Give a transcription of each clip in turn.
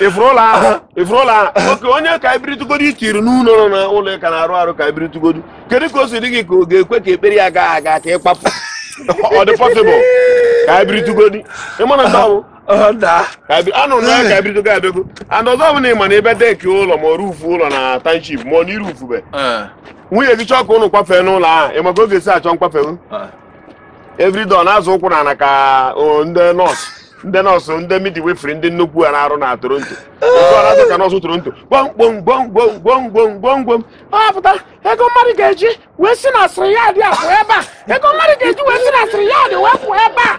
ị fụrụ ụlọ ahụ ị fụrụ ụlọ ahụ oke onye ka ebiritugodi itiri n'ụlọ nọ na ụlọ ka na-arụ arụ ka ebiritugodi kedu ka o si dị gị ka ọ ga-ekwe ka ekpere ya gaa aga ka ị kpapụ ọ dị possible ka ebiritugodi ịma na ndị ọbụ anụ na ka ebiritugodi abịago and ọzọ bụ na ịma na ebe deki ụlọ ma ọrụ ufu ụlọ na township ma ọ na ị rụfube nwunye gị chọọ ka ụnụ kwafee n'ụlọ ahụ ịma ka ọ ga-esi achọ nkwafe everyday ọ na-azọ ụkwụ n'ana ka o, ndị nọọsụ ndị nọọsụ ndị midwifery ndị nnukwu a na-arụ na Toronto otu ọ na-azọ ka nọọsụ Toronto gbọmgbom gbọmgbom gbọmgbom gbọmgbom ọ pụta ego mmadụ ga-eji wee si na asịrị ya dị apụ ebe a ego mmadụ ga-eji wee si na asịrị ya dị wee pụ ebe a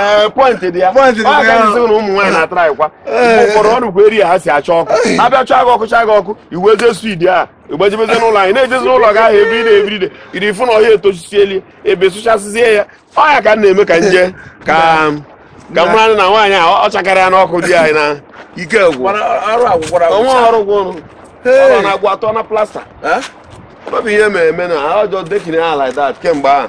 ee point dị ya Point dị ya. Ọ gaghị sị na ụmụ nwaanyị na-atara ịkwa mgbe ụfọdụ ọ nụkwa eri ya ha si acha ọkụ abịa chaa gị ọkụ chaa gị ọkụ i wee jizie speed a ị gbajebezi n'ụlọ anyị na-ejezi n'ụlọ gị ahụ ebe ị na-ebiride iri ị fụ na ọhịa etochisiela ebe sụchasịzie ya ọ ya ka m na-eme ka nje ka ka m mara na nwaanyị a ọ chakara ya n'ọkụ di anyị na ike gwụ Mana arụ a gwụkwara ọnwa ọrụ gwụ ọrụ Hey. ọ na-agwụ atọ na plaster Eh? ọ bụ ihe mere eme na ajọ dekiri ha like that kemgbe ahụ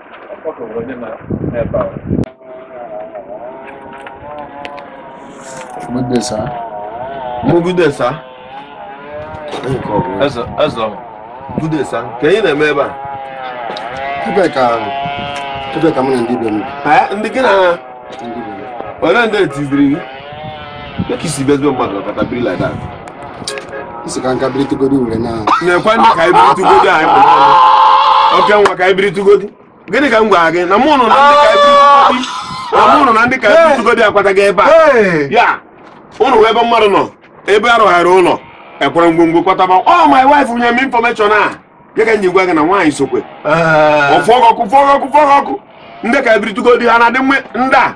Good day, sir. Good day, sir. Eze, eze. Good day, sir. Kee ihe ị na-eme ebe a? Ebe ka ebe ka mụ na ndị be m. Ndị gị na Ole ndị etiziri gị? Ka i si bịazi be mmadụ kata biri like that. Ị sị ka nka biritugodi were na. Na-ekwe ndị ka ebiritugodi anyị bụ n'ọnụ. Oke nwa ka ebiritugodi. Gịnị ka m gwara gị na mụ nọ na ndị ka ebiritugodi na mụ nọ na ndị ka ebiritugodi akwataghị ebe a. Ya ụnụ wee ebe mmadụ nọ ebe arụgharị ụlọ a kwara ngwongwo kwata ebe a ọ my wife nye m information a ya ka nji gwa gị na nwaanyị sokwe ọ fụọ gị ọkụ fụọ gị ọkụ fụọ gị ọkụ ndị ka ebiritugodi ha na-adị mma ndị a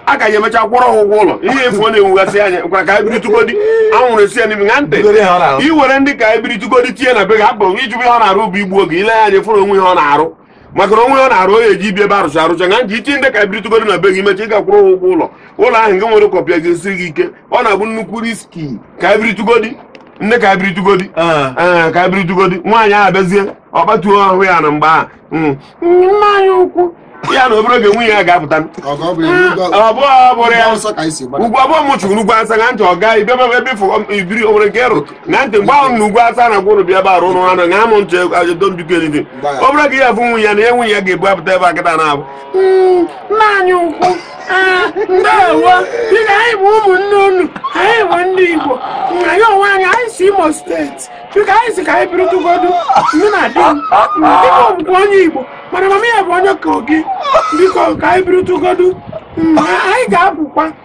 a ka ya emecha kwụrụ ha ụgwọ ụlọ ihe efu ọ na-enwugasị anya gwara ka ebiritugodi anwụrụ esi ya n'imi na ntị Bugoro ihe ọ na-arụ. i were ndị ka ebiritugodi tinye na be gị hapụ ijụbụ ihe ọ na-arụ bụ igbu oge ile ya anya fụrụ o nwee ihe ọ na-arụ maka na o nwee ihe ọ na-arụ ọ ya-eje ibi ebe arụcha arụcha nga nji ịchị ndị ka ebiritugodi na be gị mecha ị ga-akwụrụ ha ụgwọ ụlọ ụlọ ahụ nke nwere kwapụ ya ga-esiri gị ike ọ na-abụ nnukwu risk ka ebiritugodi ndị ka ebiritugodi ah. eh, ka ebiritugodi nwaanyị ahụ abịazie ọ kpatuo ahụ ya na mgbe ahụ hmm. nna anyị ukwu ya na obere oge nwunye ya ga-apụta ụgwọ abụọ m chụrụ ugwu Awụsa na ntị ọ gaa ibe ebe i biri o nwere nke ịrụ na ntị mgbe ahụ na ugwu Awụsa na gwụrụ bịa ebe arụ ụrụ anụ ṅaa m ntị ajedombiko elidi ọ bụrụ ka ihe afụ nwunye ya na ihe nwunye ya ga-ebu apụta ebe kịta na-abụ hmm, nna anyị ukwu ah, ndewo dị na anyị bụ ụmụnne unu anyị bụ ndị Igbo anyị onwe anyị anyị si Imo State biko anyị si ka anyị biritugodi ndị na di m dịka ọ bụkwa onye Igbo mana mama ya bụ onye Kogi biko ka anyị biritugodi hmm, anyị ga-apụkwa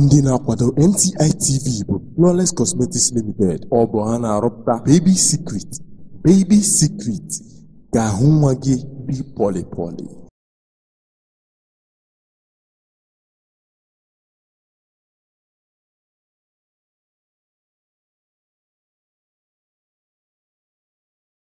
Ndị na-akwado NTI TV bụ Flawless Cosmetics Limited. Ọ bụ ha na-arụpụta Baby Secret. Baby Secret ga-ahụ nwa gị dị pọlị pọlị.